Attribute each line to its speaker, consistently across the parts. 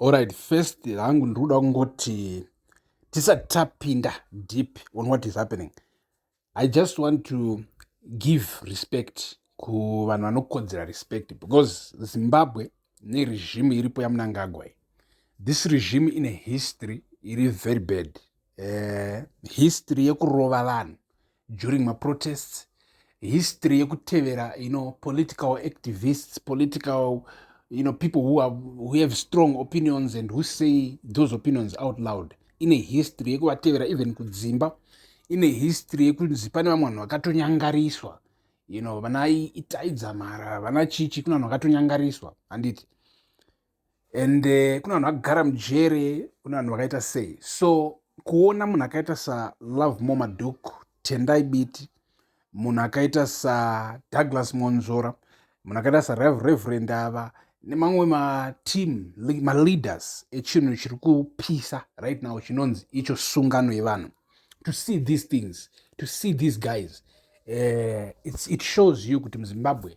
Speaker 1: Alright, first hangu ndiri kuda kungoti tisati tapinda deep on what is happening i just want to give respect kuvanhu vanokodzera respect because zimbabwe neregimu iripo yamunangagwa iyi this regimu ine history iri very bad uh, history yekurova vanhu during maprotests history yekutevera you know political activists political you know people who, are, who have strong opinions and who say those opinions out loud ine history yekuvatevera even kudzimba ine history yekunzi pane vamwe vanhu vakatonyangariswa you know vana itaidzamara vana chichi kune vanhu vakatonyangariswa handiti and uh, kune vanhu vagara mujere kune vanhu vakaita sei so kuona munhu akaita salove mo maduk tendai biti munhu akaita sadouglas monzora munhu akaita sareverend ava nemamwe mateam maleaders echinhu chiri kupisa right now chinonzi icho sungano yevanhu to see these things to see these guys uh, it shows you kuti muzimbabwe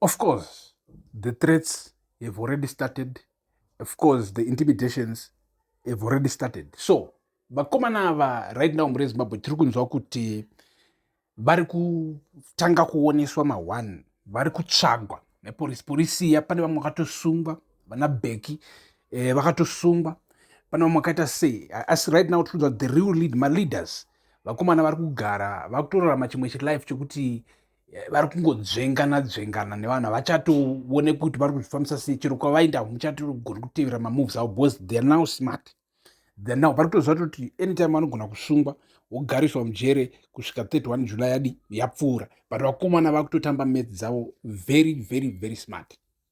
Speaker 1: Of course, the threats have already started. Of course, the intimidations have already started. So, vakomana ava right now mure zimbabwe tiri kunzwa kuti vari kutanga kuoneswa mahwan vari kutsvagwa neporisi porisi iya pane vamwe vakatosungwa vana beki eh, vakatosungwa pana vamwe akaita sei asi right now tikuudza the real lead maleaders vakomana vari kugara vakutorarama chimwe chilife chekuti eh, vari kungodzvengana dzvengana nevanhu havachatowone kuti vari kuzvifambisa sei chero kwavaenda muchatogoni kutevera mamoves avo because theyr now smart theyr now vari kutoziva toti anytime vanogona kusungwa wogariswa mujere kusvika 31 july yadi yapfuura but vakomana vakutotamba mats dzavo very very very smart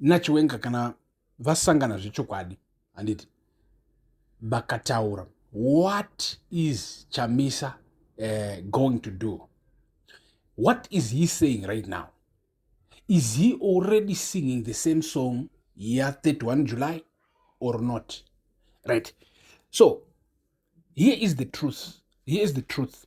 Speaker 1: nachiwenga kana vasangana zvechokwadi handiti vakataura what is chamisa uh, going to do what is he saying right now is he already singing the same song ya 31 july or not right so here is the truth here is the truth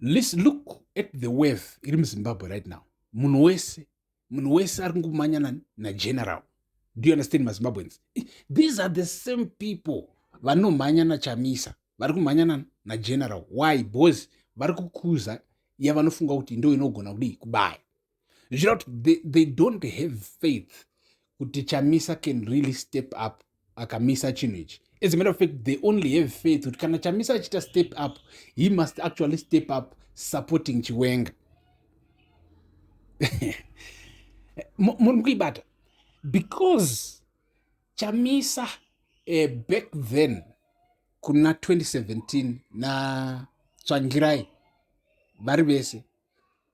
Speaker 1: Listen, look at the wave iri muzimbabwe right now munhu wese munhu wese ari kungomanyana nageneral do you understand mazimbabweans these are the same people vanomhanya nachamisa vari kumhanyana nageneral why bcause vari kukuza yavanofunga kuti ndo inogona kudii kubaya zvichira kuti they, they don't have faith kuti chamisa can really step up akamisa chinhu ichi as a matter of fact they only have faith kuti kana chamisa achiita step up he must actually step up supporting chiwenga muri kuibata because chamisa uh, back then kuna 2017 natsvangirai vari vese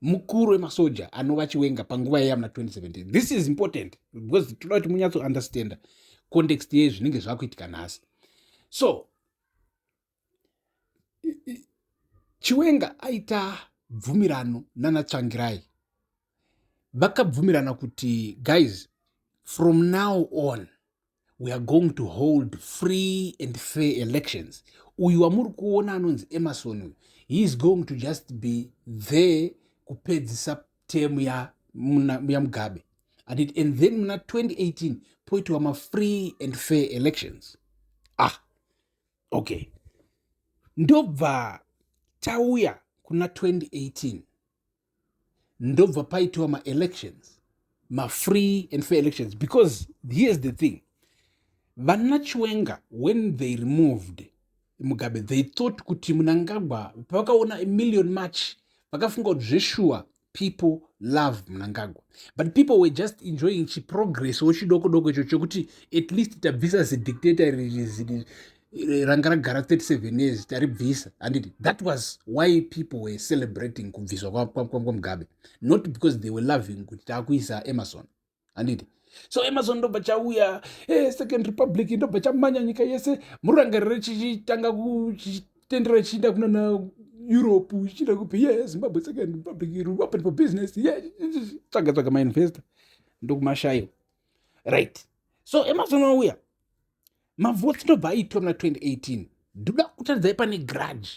Speaker 1: mukuru wemasoja anova chiwenga panguva yaiya muna 2017 this is important because toda kuti munyatso understanda context yei zvinenge zvakuitika nhasi so chiwenga aita bvumirano nana tsvangirai vakabvumirana kuti guys from now on we are going to hold free and fair elections uyu wamuri kuona anonzi emerson uyu he is going to just be there kupedzisa temu yamugabe and, it, and then muna 2018 poitiwa mafree and fair elections ah okay ndobva tauya kuna 2018 ndobva paitiwa maelections mafree and fair elections because here's the thing vana chiwenga when they removed mugabe they thought kuti munangagwa pavakaona million march vakafunga kuti zveshuwa people love mnangagwa but people were just enjoying chiprogress wochidoko doko icho chokuti at least tabvisa zidictator ranga ragara 37 years taribvisa handiti that was why people were celebrating kubviswa kwamugabe not because they were loving kuti taakuisa emerson handiti so emerson ndobva chauya hey, eh, second republic ndobva chamanya nyika yese murangariro chichitanga kuchitendera chichiinda kunana europe chichiinda kupi ye zimbabwe second republic open for business ye tsvaga tsvaga mainvestor ndokumashayo right so emerson wauya mavoti ndobva aitwa muna 2018 ndoda kutaridzai pane grudge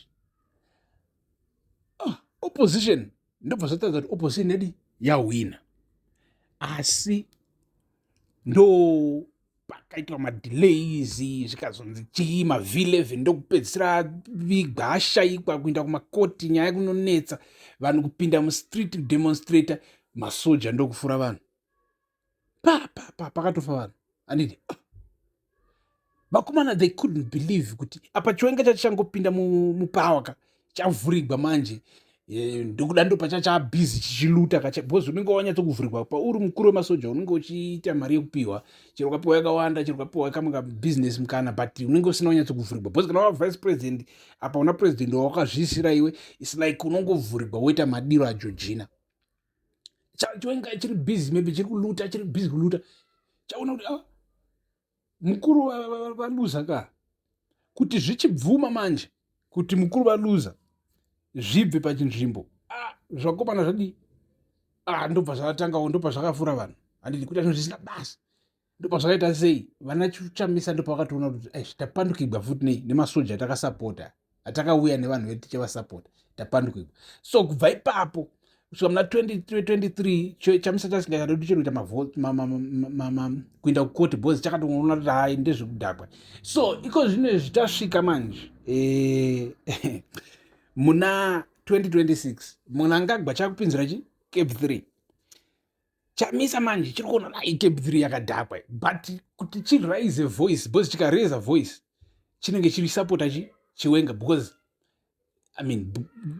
Speaker 1: oh, opposition ndobva zvataridza kuti opposition yadi yahwina asi ndo pakaitwa madelays zvikazonzi chii mavileve ndokupedzisira vigwa ashaikwa kuinda kumakoti nyaya kunonetsa vanhu kupinda mustreet kudemonstrator masoja ndokufura vanhu papapa pakatofa vanhu anditi ah. vakomana they couldn't believe kuti apa chiwenga chacho changopinda mupawa ka chavhurigwa manje eh, ndokuda ndo pacha chabhizi chichiluta ka because unenge wanyatsokuvhurigwa pauri mukuru wemasoja unenge uchiita mari yekupiwa chero ukapiwa yakawanda chero ukapiwa kamwe kabusiness mukana but unenge usina wanyatsokuvhurigwa because kana wavice president apa una president wawakazviisira iwe is like unongovhurigwa woita madiro ajojina chaenga chiri busy maybe chiri kuluta chiri busy kuluta chaona kuti ah, mukuru valuza ka kuti zvichibvuma manje kuti mukuru valuza zvibve pachinzvimbo ah, zvakomana zvadii ah, ndobva zvatakangawo ndobva zvakafura vanhu handiti kuita zvinhu zvisina basa ndopazvakaita sei vana chamisa ndopavakatoona kuti aish tapandukigwa futi nei nemasoja atakasapota atakauya nevanhu vedu tichavasapota tapandukigwa so kubva ipapo kusvika muna 2023 chamisa chasingachadodi chero kuita kuenda kukoti bcause chakatoona kuti hai ndezvekudhakwa so iko zvino izvi tasvika manje eh, muna 2026 munangagwa chakupinzira chi cape 3 chamisa manje chiri kuona dai tape 3 yakadhakwa but kuti chiraise voice because chikaraise voice chinenge chiri supporta chi chiwenga because i mean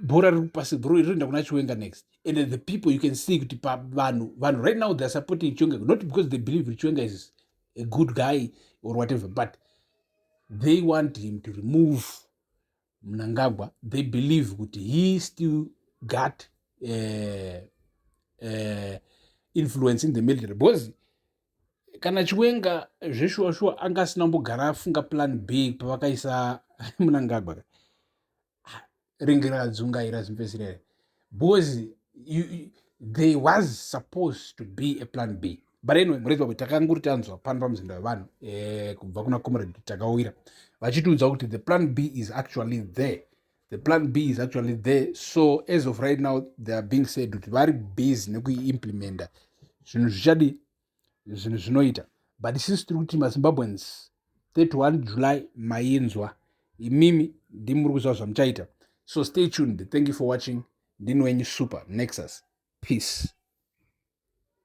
Speaker 1: bhora riri kupasi bro rinoenda kuna chiwenga next and the people you can see kuti pavanhu vanhu right now theyare supporting chiwenga not because they believe kuti chiwenga is a good guy or whatever but they want him to remove mnangagwa they believe kuti he still got uh, uh, influence in the military because kana chiwenga zveshuwa shuwa anga asina kumbogara afunga plan b pavakaisa munangagwa ringi radzungaira zimvesirere because you, you, there was supposed to be a plan b but anyway murezi wako takanguri tanzwa pano pamuzinda wevanhu eh, kubva kuna comrade takawira vachitiudza kuti the plan b is actually there the plan b is actually there so as of right now they are being said kuti vari busy nekuiimplementa zvinhu zvichadi zvinhu zvinoita but sisi tiri kuti mazimbabweans 31 july mainzwa imimi ndimuri kuziva zvamuchaita so stay tuned thank you for watching ndini wenyu super nexus peace